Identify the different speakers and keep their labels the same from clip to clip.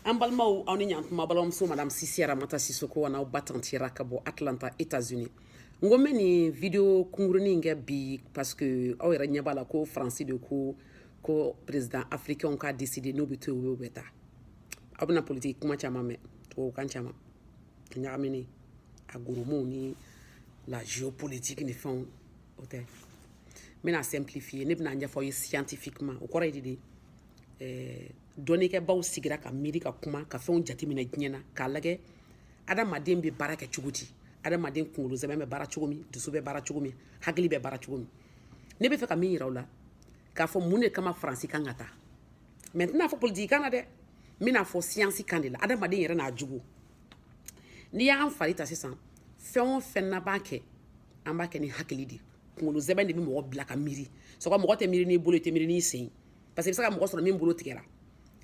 Speaker 1: an balimaw aw ni ɲantuma balimamuso madame sise aramata sisoko an'aw ba tantira ka bɔ atlanta états unis n ko n bɛ nin video kunkurunin in kɛ bi parce que aw yɛrɛ ɲɛ b'a la ko faransi de ko ko président africainw ka décider n'u bɛ to yen u bɛ taa aw bɛna politiki kuma caman mɛn tubabukan caman a ɲagaminen a gros motw ni la géopolitique ni fɛnw o tɛ n bɛn'a simplifier ne bɛn'a ɲɛfɔ aw ye scientifiquement o kɔrɔ ye di de eh, dɔnnikɛbaw sigira ka miiri ka kuma ka fɛnw jateminɛ diɲɛ na k'a lajɛ adamaden bɛ baara kɛ cogo di adamaden kunkolo sɛmɛ bɛ baara cogo min dusu bɛ baara cogo min hakili bɛ baara cogo min ne b'a fɛ ka min yira aw la k'a fɔ mun de kama faransi kan ka taa mais n tɛn'a fɔ politiki kan na dɛ n bɛn'a fɔ siyansi kan de la adamaden yɛrɛ n'a jogo n'i y'an fari ta sisan fɛn o fɛn n'an b'a kɛ an b'a kɛ ni hakili de kunkolo sɛmɛ de bɛ mɔgɔ bila ka miiri sɔgɔ mɔgɔ tɛ miiri n'i bolo i tɛ miiri n'i sen parce que i bɛ se ka mɔgɔ sɔrɔ min bolo tigɛra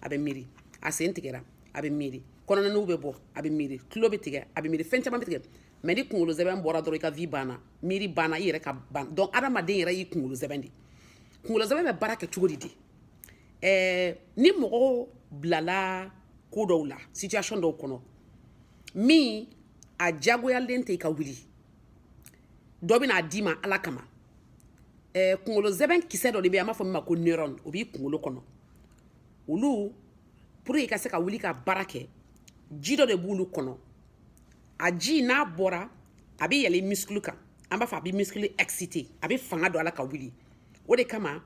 Speaker 1: a bɛ miiri a sen tigɛra a bɛ miiri kɔnɔna nugu bɛ bɔ a bɛ miiri tulo bɛ tigɛ a bɛ miiri fɛn caman bɛ tigɛ mais ni kunkolo sɛmɛ bɔra dɔrɔn i ka vie banna miiri banna i yɛrɛ ka ban donc adamaden yɛrɛ y'i kunkolo sɛmɛ de kunkolo sɛmɛ bɛ baara kɛ cogo di de ɛɛ ni mɔgɔw bilala ko dɔw la situation dɔw kɔnɔ min a diyagoyalen tɛ i ka wuli dɔ bɛna d'i ma ala kama ɛɛ eh, kunkolo sɛmɛ kisɛ dɔ de bɛ yen an b'a fɔ min ma ko neurone o b'i kunkolo kɔnɔ olu pour que i ka se ka wuli ka baara kɛ ji dɔ de b'olu kɔnɔ a ji n'a bɔra a bɛ yɛlɛ muscle kan an b'a fɔ a bɛ muscle exciter a bɛ fanga don a la ka wuli o de kama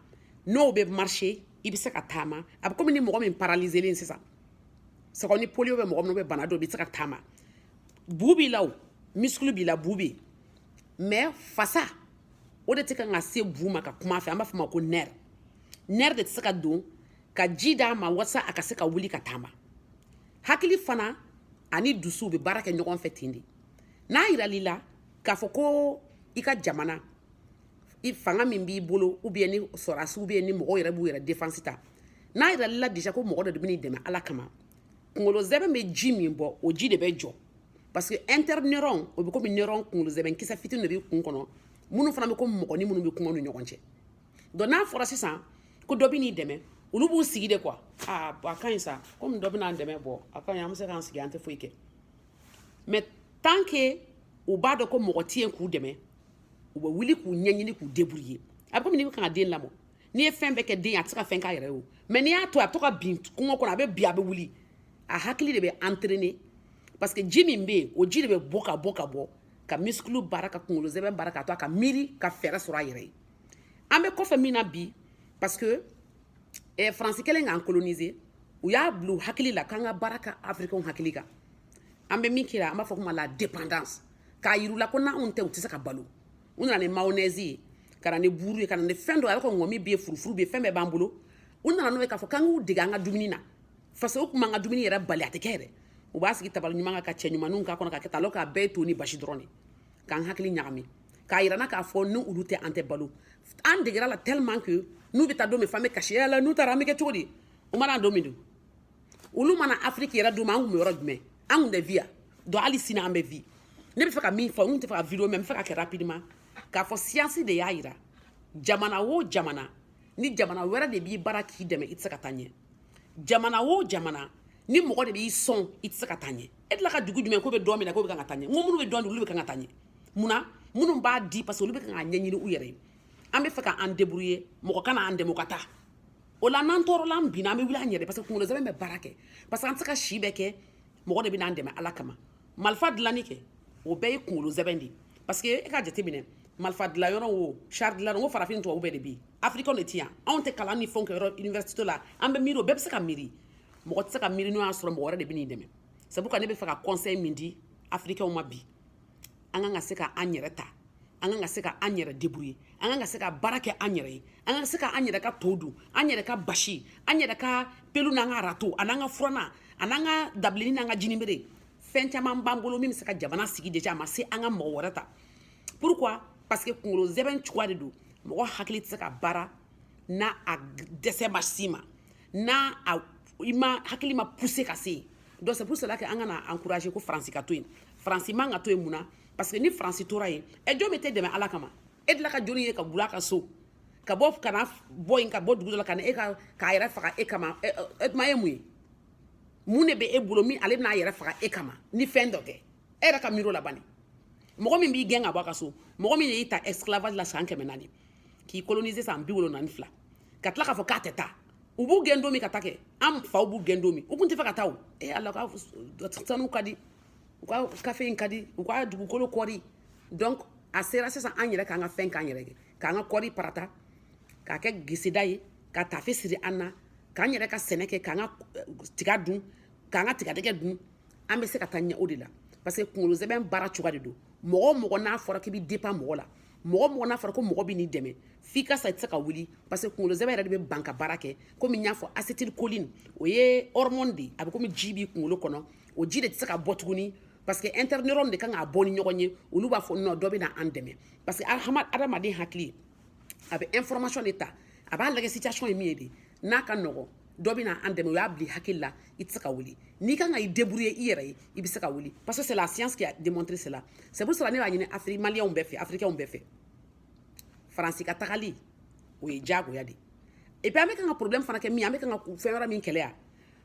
Speaker 1: n'o bɛ marcher i bɛ se ka taama a bɛ komi ni mɔgɔ min paralyselen sisan sɔgɔ ni polio bɛ mɔgɔ min na bana dɔ bɛ se ka taama bu b'i la o muscle b'i la bu bɛ yen mais fasa o de tɛ kan ka se bu ma ka kuma a fɛ an b'a fɔ a ma ko nerf nerf de tɛ se ka don ka ji d'a ma walasa a ka se ka wuli ka taama hakili fana ani dusu bɛ baara kɛ ɲɔgɔn fɛ ten de n'a yiral'i la k'a fɔ ko i ka jamana i fanga min b'i bolo ou bien ni sɔrɔdasiw bɛ yen ni mɔgɔw yɛrɛ b'u yɛrɛ défense ta n'a yiral'i la déjà ko mɔgɔ dɔ de bɛn'i dɛmɛ ala kama kunkolo sɛmɛ bɛ ji min bɔ o ji de bɛ jɔ parce que interneurone o bɛ komi neurone kunkolo sɛmɛ kisɛ fitini de b'i kun kɔnɔ minnu fana bɛ komi mɔgɔnin minnu bɛ kuma ni ɲɔgɔn cɛ donc n'a fɔra sisan ko dɔ bɛn'i dɛmɛ olu b'u sigi dɛ quoi aa a ka ɲi sa komi dɔ bɛna an dɛmɛ bon a ka ɲi an bɛ se k'an sigi an tɛ foyi kɛ mais tant que u b'a dɔn ko mɔgɔ tɛ yen k'u dɛmɛ u bɛ wuli k'u ɲɛɲini k'u débrouiller a bɛ komi n'i bɛ kan ka den lamɔ n'i ye fɛn bɛɛ kɛ den ye a tɛ se ka fɛn k'a yɛrɛ ye o mais n'i y'a to a bɛ to ka bin kungo kɔnɔ a bɛ bin a bɛ wuli a hakili de bɛ entraîner parce que ji min bɛ yen o ji de bɛ bɔ ka bɔ ka bɔ ka misikulu baara ka kunkolo zɛmɛ baara ka to a ka miiri ka fɛɛrɛ sɔrɔ a yɛrɛ ye an bɛ kɔfɛ min na bi parce que eh, faransi kɛlen k'an coloniser u y'a bila u hakili la k'an ka baara kɛ afirikɛnw hakili kan an bɛ min kira an b'a fɔ ko la dépendance k'a yir'u la ko n'anw tɛ u tɛ se ka balo u nana ni mayonnaise ye ka na ni buuru ye ka na ni fɛn dɔ a bɛ ka ŋɔmi bɛ yen furufuru bɛ yen fɛn bɛɛ b'an bolo u nana n'o ye k'a fɔ k'an k'u dege an ka dumuni na fasa u tun b'an ka dumuni yɛrɛ bali a tɛ kɛ yɛrɛ u b'a sigi tabali ɲuman kan ka cɛ ɲumanninw k'a kɔnɔ ka kɛ alors k'a bɛɛ ye to ni basi dɔrɔn de k'an hakili ɲagami k'a yira an na k'a fɔ ni olu tɛ an tɛ balo an degera a la tellement que n'u bɛ taa don min f'an bɛ kasi yala n'u taara an bɛ kɛ cogo di u ma na don min don olu ma na afiriki yɛrɛ tuma an kun bɛ yɔrɔ jumɛn an kun tɛ vi yan donc hali sini an bɛ vi ne bɛ fɛ ka min fɔ n tɛ fɛ ka video mɛɛn n bɛ fɛ ka kɛ rapidement k'a fɔ siyansi de y'a yira jamana o jamana ni jamana wɛrɛ de b'i baara k'i dɛmɛ i tɛ se ka taa ɲɛ jamana o jamana ni mɔgɔ de b'i sɔn i tɛ se ka taa ɲɛ e delila ka dugu jumɛn k'o bɛ don mina k'o bɛ kan ka taa ɲɛ nka minnu bɛ don di olu bɛ kan ka taa ɲɛ mun na minnu b'a di parce que olu bɛ kan k'a ɲɛɲini u yɛrɛ ye an bɛ fɛ ka an debrouiller mɔgɔ kana an dɛmɛ u ka taa o la n'an tɔɔrɔla an binna an bɛ wuli an yɛrɛ parce que kunkolo zɛmɛ bɛ baara kɛ parce que an tɛ se ka si bɛɛ kɛ mɔgɔ de bɛ n'an dɛmɛ ala kama malifa dilanni kɛ o bɛɛ ye kunkolo zɛbɛn de ye parce que e ka jateminɛ malifa dilan yɔrɔ o char dilan o farafin tubabu bɛɛ de bɛ yen afirikɛnw de tɛ yan anw tɛ kalan ni fɛnw kɛ yɔrɔ université la an bɛ miiri o bɛɛ bɛ se ka miiri mɔgɔ tɛ se ka miiri n'o y'a sɔrɔ mɔgɔ wɛrɛ de bɛ n'i dɛmɛ c'est pourquoi ne bɛ fɛ ka conseil min di afirikɛnw ma bi an kan ka se ka an yɛrɛ ta an kan ka se ka an yɛrɛ debrouiller an kan ka se ka baara kɛ an yɛrɛ ye an kan ka se ka an yɛrɛ ka to dun an yɛrɛ ka basi an yɛrɛ ka pelu n'an ka rato an'an ka furana an'an ka dabileni n'an ka jinibere fɛn caman b'an bolo min bɛ se ka jamana sigi déjà a ma se an ka mɔgɔ wɛrɛ ta pourquoi parce que kunkolo zɛbɛn cogoya de don mɔgɔ hakili tɛ se ka baara n'a a dɛsɛ ma s'i ma n'a a i ma hakili ma pousser ka se yen donc c'est pour cela que an kana encourager ko faransi ka to yen faransi man ka to yen mun na parce que ni faransi tora yen ɛ jɔn bɛ t'e dɛmɛ ala kama e delila ka joli ye ka wul'a ka so ka bɔ kana bɔ yen ka bɔ dugu dɔ la ka na e ka k'a yɛrɛ faga e kama e tuma ye mun ye mun de bɛ e bolo min ale bɛna a yɛrɛ faga e kama ni fɛn dɔ tɛ e yɛrɛ ka miiri o la bani mɔgɔ min b'i gɛn ka bɔ a ka so mɔgɔ min de y'i ta esclavage la san kɛmɛ naani k'i coloniser san bi wolonwula ni fila ka tila k'a fɔ k'a tɛ taa u b'u gɛn don min ka taa kɛ an faw b'u gɛn don min u kun tɛ fɛ ka taa o ee ala ka sanu ka di u ka kafe in ka di u ka dugukolo kɔri donc a sera sisan an yɛrɛ k'an ka fɛn k'an yɛrɛ kɛ k'an ka kɔri parata k'a kɛ geseda ye ka tafe siri an na k'an yɛrɛ ka sɛnɛ kɛ k'an ka eh, tiga dun k'an ka tigadɛgɛ dun an bɛ se ka taa ɲɛ o de la parce que kunkolo zɛbɛn baara cogoya de don mɔgɔ o mɔgɔ n'a fɔra k'i bɛ dépend mɔgɔ la mɔgɔ o mɔgɔ n'a fɔra ko mɔgɔ bɛ n'i dɛmɛ f'i ka sa i tɛ se ka wuli parce que kunkolo sɛmɛ yɛrɛ de bɛ ban ka baara kɛ komi n y'a fɔ acétylcholine o ye hormone de ye a bɛ komi ji b'i kunkolo kɔnɔ o ji de tɛ se ka bɔ tuguni parce que interneurone de kan k'a bɔ ni ɲɔgɔn ye olu b'a fɔ non dɔ bɛ na an dɛmɛ parce que adamaden hakili a bɛ information de ta a b'a lajɛ situation ye min ye de n'a ka nɔgɔn dɔ bɛna an dɛmɛ o y'a bila hakili la i tɛ se ka wuli n'i kan ka i débrouiller i yɛrɛ ye i bɛ se ka wuli parce que c'est la science qui a démontré cela c'est pour cela ne b'a ɲini afiri maliyɛnw bɛɛ fɛ afirikɛnw bɛɛ fɛ faransi ka tagali o ye diyagoya de et puis an bɛ kan ka problème fana kɛ min an bɛ kan ka fɛn wɛrɛ min kɛlɛ yan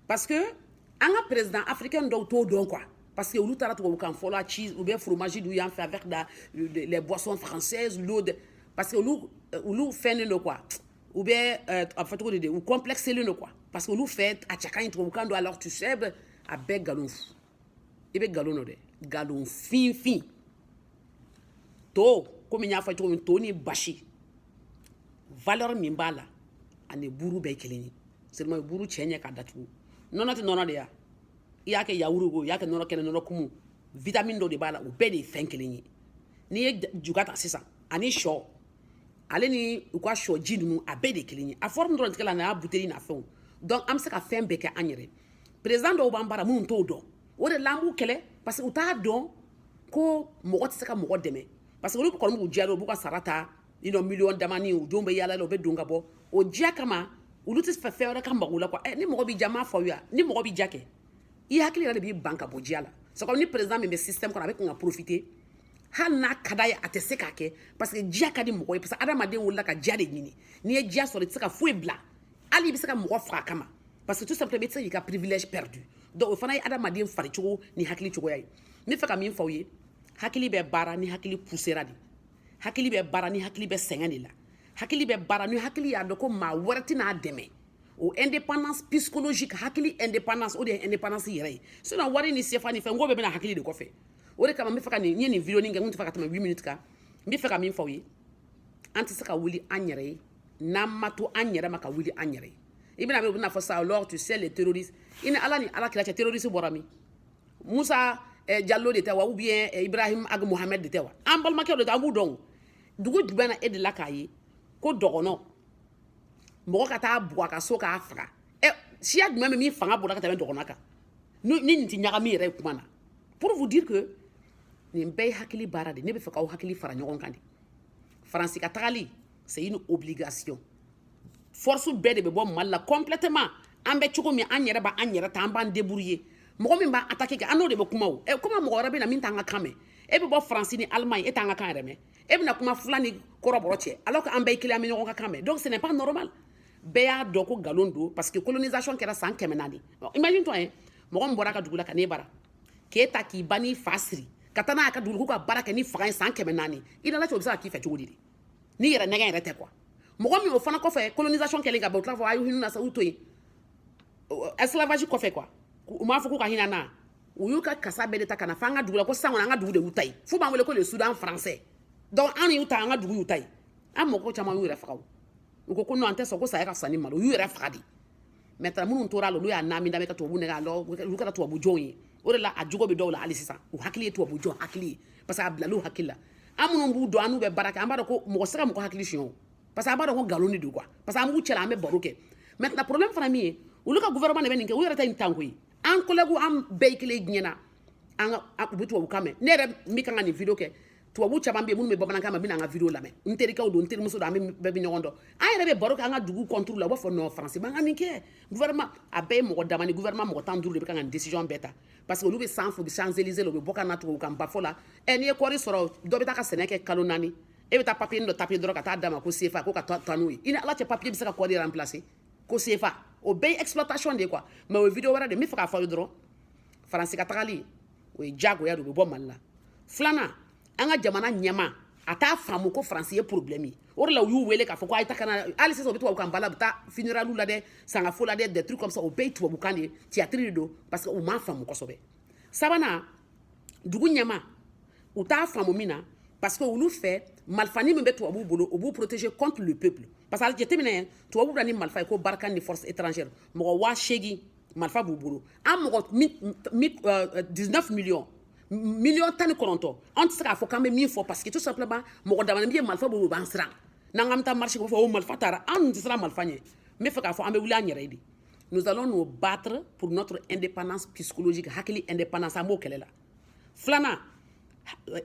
Speaker 1: parce que an ka président africain dɔw t'o dɔn quoi parce que olu taara tubabukan fɔ la cheese ou bien fromage dun yan fɛ avec la les boissons françaises l'eau de parce que olu olu fɛnnen don quoi ou bien euh, a fɔ cogo de de u complexelen don quoi parce que olu fɛ a cɛ ka ɲi tubabukan don alors tu sais a bɛɛ nkalon fu i bɛ nkalon dɔ dɛ nkalon finfin to komi n y'a fɔ cogo min to ni basi valeur min b'a la ani buuru bɛɛ kelen ye seulement buuru cɛ ɲɛ ka datugu nɔnɔ tɛ nɔnɔ de ya i y'a kɛ yawuru ko i y'a kɛ nɔnɔ kɛnɛ nɔnɔ kumu vitamine dɔ de b'a la o bɛɛ de ye fɛn kelen ye n'i ye juga ta sisan ani sɔ ale ni u ka sɔ ji ninnu a bɛɛ de kelen ye a forme dɔrɔn tigɛ la n'a buteli n'a fɛnw donc an bɛ se ka fɛn bɛɛ kɛ an yɛrɛ président dɔw b'an bara minnu t'o dɔn o de la an b'u kɛlɛ parce que u t'a dɔn ko mɔgɔ tɛ se ka mɔgɔ dɛmɛ parce que olu kɔni b'u diya dɔn u b'u ka sara ta i nɔ miliyɔn damani u denw bɛ yaala la u bɛ don ka bɔ o diya kama olu tɛ fɛ fɛn wɛrɛ ka mago la quoi ɛ ni mɔgɔ b'i diya m'a fɔ aw ye ni mɔgɔ b'i diya kɛ i hakili yɛrɛ de b'i ban ka bɔ diya la sabu ni président min bɛ système kɔnɔ a bɛ kan ka profiter hali n'a ka d'a ye a tɛ se k'a kɛ parce que diya ka di mɔgɔ ye parce que adamaden wolola ka diya de ɲini n'i ye diya sɔrɔ i tɛ se ka foyi bila hali i bɛ se ka mɔgɔ faga a kama parce que tout simplement i tɛ se k'i ka privilège perdu donc o fana ye adamaden fari cogo ni hakili cogoya ye n bɛ fɛ ka min fɔ aw ye hakili bɛ baara ni hakili poussera de hakili bɛ baara ni hakili bɛ sɛgɛn de la hakili bɛ baara ni hakili y'a dɔn ko maa wɛrɛ tɛna a dɛmɛ o indépendance psychologique hakili indépendance o de ye indépendance yɛrɛ ye sinon wari ni sefa ni fɛn ko bɛɛ bɛna hakili de kɔfɛ o de kama n bɛ fɛ ka nin n ye nin video nin kɛ n kun tɛ fɛ ka tɛmɛ 8 minutes kan n bɛ fɛ ka min fɔ aw ye an tɛ se ka wuli an yɛrɛ ye n'an ma to an yɛrɛ ma ka wuli an yɛrɛ ye i bɛn'a mɛn u bɛn'a fɔ sa alors tu sais les terroristes i ni ala ni ala kira cɛ terroriste bɔra min musa eh, jallo de tɛ wa ou bien eh, ibrahim ag mohamed de tɛ wa an balimakɛw de tɛ an b'u dɔn dugu jumɛn na e de la k'a ye ko dɔgɔnɔ mɔgɔ ka taa bugɔ a ka so k'a faga ɛ eh, siya jumɛn bɛ min fanga bɔra ka tɛmɛ dɔgɔnɔ kan ni nin tɛ ɲagami yɛrɛ ye kuma na pour vous dire que nin bɛɛ ye hakili baara de ne bɛ fɛ k'aw hakili fara ɲɔgɔn kan de faransi ka tagali c'est une obligation force bɛɛ de bɛ bɔ mali la complètement an bɛ cogo min an yɛrɛ b'an yɛrɛ ta an b'an débrouiller mɔgɔ min b'an attaquer kɛ an n'o de bɛ kuma o ɛ comment mɔgɔ wɛrɛ bɛ na min t'an ka kan mɛn e bɛ bɔ faransi ni allemagne e t'an ka kan yɛrɛ mɛn e bɛna kuma fila ni kɔrɔbɔrɔ cɛ alors que an bɛɛ ye kelen an bɛ ɲɔgɔn ka kan mɛn donc ce n'est pas normal bɛɛ y'a dɔn ko nkalon don parce que colonisation kɛra san kɛmɛ naani imagine toi hein mɔgɔ min bɔra a ka dugu la ka n'e bara k'e ta k'i ba n'i fa siri ka taa n'a y'a ka dugu k'olu ka baara kɛ ni fanga ye san kɛmɛ naani i ni ala cɛ o bɛ se ka k'i fɛ cogo di de n'i yɛrɛ nɛgɛ yɛrɛ tɛ quoi mɔgɔ min o fana kɔfɛ colonisation kɛlen ka ban u tila fɔ a ye hinɛ na sa u to yen esclavage kɔfɛ quoi u m'a fɔ k'u ka hinɛ na u y'u ka kasa bɛɛ de ta ka na fɔ an ka dugu la ko sisan kɔni an ka dugu de y'u ta ye f'u b'an wele ko le soudan français donc an y'u ta an ka dugu y'u ta ye an mɔgɔ caman y'u yɛrɛ faga u ko ko non an tɛ sɔn ko saya ka fisa ni malo u y'u yɛrɛ faga de maintenant minnu tora la olu y'a naami da bɛ ka tubabu nɛgɛ alors olu kɛra tubabu jɔnw ye o de la a jogo bɛ dɔw la hali sisan u hakili ye tubabu jɔn hakili ye parce que a bilala u hakili la an minnu b'u dɔn an n'u bɛ baara kɛ an b'a dɔn ko mɔgɔ se ka mɔgɔ hakili suɲɛ o parce que an b'a dɔn ko nkalon de don quoi parce que an b'u cɛla an bɛ baro kɛ maintenant problème fana min ye olu ka gouvernement de bɛ nin kɛ u yɛrɛ tɛ nin tan koyi an collègue an bɛɛ kelen diɲɛ na an ka u bɛ tubabu kan mɛn ne yɛrɛ min kan ka nin video kɛ tubabu caman bɛ yen minnu bɛ bamanankan mɛn bɛna an ka video lamɛn n terikɛw don n terimuso don an bɛɛ bɛ ɲɔgɔn dɔn an yɛrɛ bɛ baro kɛ an ka dugu contre la u b'a fɔ non faransi man ka nin kɛ gouvernement a bɛɛ ye mɔgɔ dama ni gouvernement mɔgɔ tan duuru de bɛ ka nin décision bɛɛ ta parce que olu bɛ sanfɛ u bɛ champs élysées la u bɛ bɔ ka na tubabu kanba fɔ la ɛ n'i ye kɔɔri sɔrɔ dɔ bɛ taa ka sɛnɛ kɛ kalo naani e bɛ taa papier dɔ taper dɔrɔn ka taa d'a ma ko sefa ko ka taa n'o ye i ni ala cɛ papier bɛ se ka kɔɔri remplacer ko sefa o bɛɛ ye exploitation de ye quoi mais o ye video wɛrɛ de n bɛ fɛ k'a fɔ aw ye dɔrɔn faransi ka tagali o ye jagoya de bɛ bɔ mali la filanan an ka jamana ɲɛmaa t'a faamu ko faransi ye problème ye o de la u y'u wele k'a fɔ ko a ye taa ka na hali sisan u bɛ tubabu kanba la u bɛ taa funérailles la dɛ sangafo la dɛ des trucs comme ça o bɛɛ ye tubabu kan de ye théâtre de don parce que u m'a faamu kosɛbɛ sabanan dugu ɲɛmaaw t'a faamu min na parce que olu fɛ malifani min bɛ tubabuw bolo o b'u protéger contre le peuple parce que a jateminɛ tubabuw bɛ na ni malifa ye ko barkhane force étrangère mɔgɔ waa seegin marifa b'u bolo an mɔgɔ dix-neuf millions miliyɔn tan ni kɔnɔntɔn an tɛ se k'a fɔ k'an bɛ min fɔ parce que tout simplement mɔgɔ damani bɛ yen marifa b'u bolo u b'an siran n'an k'an bɛ taa marcher k'a fɔ o marifa taara an tɛ siran marifa ɲɛ n bɛ fɛ k'a fɔ an bɛ wuli an yɛrɛ ye de nous allons nous battre pour notre indépendance psychologique hakili indépendance an b'o kɛlɛ la filanan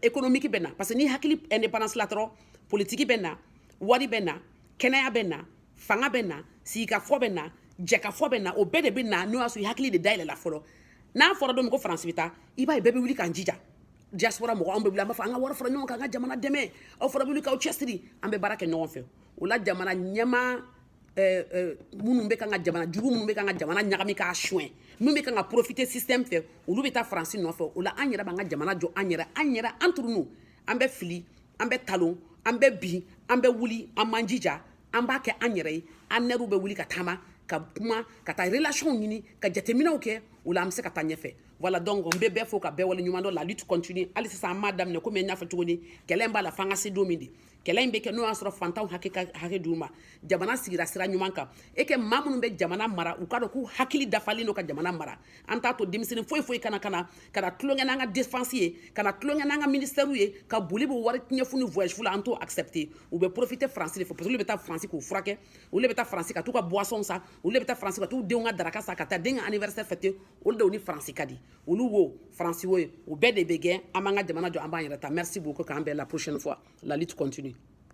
Speaker 1: ekonomiki bɛ na parce que ni hakili indépendance la dɔrɔn politiki bɛ na wari bɛ na kɛnɛya bɛ na fanga bɛ na sigikafɔ bɛ na jɛkafɔ bɛ na o bɛɛ de bɛ na n'o y'a sɔrɔ i hakili de dayɛlɛla fɔlɔ n'a fɔra don min ko faransi bɛ taa i b'a ye bɛɛ bɛ wuli k'an jija diaspora mɔgɔ anw bɛ wuli an b'a fɔ an ka wari fara ɲɔgɔn kan an ka jamana dɛmɛ aw fana bɛ wuli k'aw cɛsiri an bɛ baara kɛ ɲɔgɔn fɛ o la jamana ɲɛmaa Eh, eh, minnu bɛ kan ka jamana jugu minnu bɛ kan ka jamana ɲagami k'a suɲɛ minnu bɛ kan ka profiter système fɛ olu bɛ taa faransi nɔfɛ o la an yɛrɛ b'an ka jamana jɔ an yɛrɛ an yɛrɛ an turunu an bɛ fili an bɛ talon an bɛ bin an bɛ wuli an b'an jija an b'a kɛ an yɛrɛ ye an yɛrɛ bɛ wuli ka taama ka kuma ka taa relation ɲini ka jateminɛw kɛ o la an bɛ se ka taa ɲɛfɛ voilà donc n bɛ bɛɛ fo ka bɛɛ wale ɲuman dɔn la lutte continue hali sisan an m'a daminɛ komi n y'a fɔ cogo di kɛlɛ b'a la f'an ka se don min de kɛlɛ in bɛ kɛ n'o y'a sɔrɔ fantanw hakɛ ka hakɛ d'u ma jamana sigira sira ɲuman kan e kɛ maa minnu bɛ jamana mara u k'a dɔn k'u hakili dafalen don ka jamana mara an t'a to denmisɛnnin foyi foyi kana kana kana tulonkɛ n'an ka défense ye kana tulonkɛ n'an ka ministɛriw ye ka boli b'o wari ɲɛ fu ni voyage fu la an t'o accepter u bɛ profiter faransi de fɛ parce que olu bɛ taa faransi k'u furakɛ olu de bɛ taa faransi ka t'u ka boisson san olu de bɛ taa faransi ka t'u denw ka daraka san ka taa den ka anniversaire fêter olu de ni faransi ka di olu wo faransi wo ye o bɛɛ de bɛ gɛn an b'an ka jamana jɔ an b'an yɛrɛ ta merci beaucoup k'an bɛn la prochaine fois la lutte continue